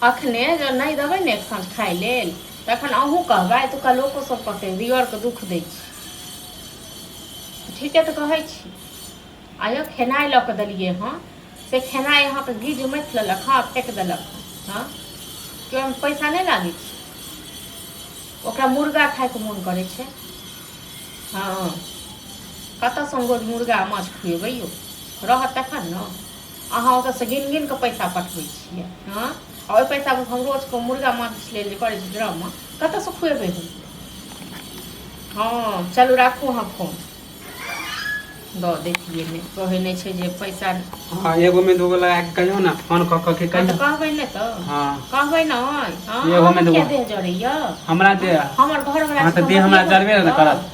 अखने जँ नहि देबै ने एक साँझ खाय लेल तखन अहूँ कहबै एतुका लोको सब कहतै दियरके दुख दै छी ठीके तऽ कहै छी आइयो खेनाइ लऽ कऽ देलियै हँ से खेनाइ अहाँके गिज मथि लेलक हँ फेक देलक हँ हँ केओ हम पैसा नहि लागै छै ओकरा मुर्गा खायके मोन करै छै हँ कतऽसँ हम रोज मुर्गा माछ खुएबै यौ रहत तखन ने अहाँ ओतऽसँ गिन गिन कऽ पैसा पठबै छियै हँ आ ओहि पैसा पर हम रोज कऽ मुर्गा माछ लेल जे करै छी ड्रामा कतऽसँ खुएबै हम हँ चलू राखू अहाँ फोन दऽ दैतियै नहि कहै नहि छै जे पैसा हाँ एगो में दूगो लगा के कहियो ना फोन क क के हँ तऽ कहियो कहबै नहि तऽ हाँ कहबै ने हँ एगो अहाँ मे किया दूगो। देह जड़ैया हमरा दे हमर घर हाँ तऽ देह हमरा जरबे ने करत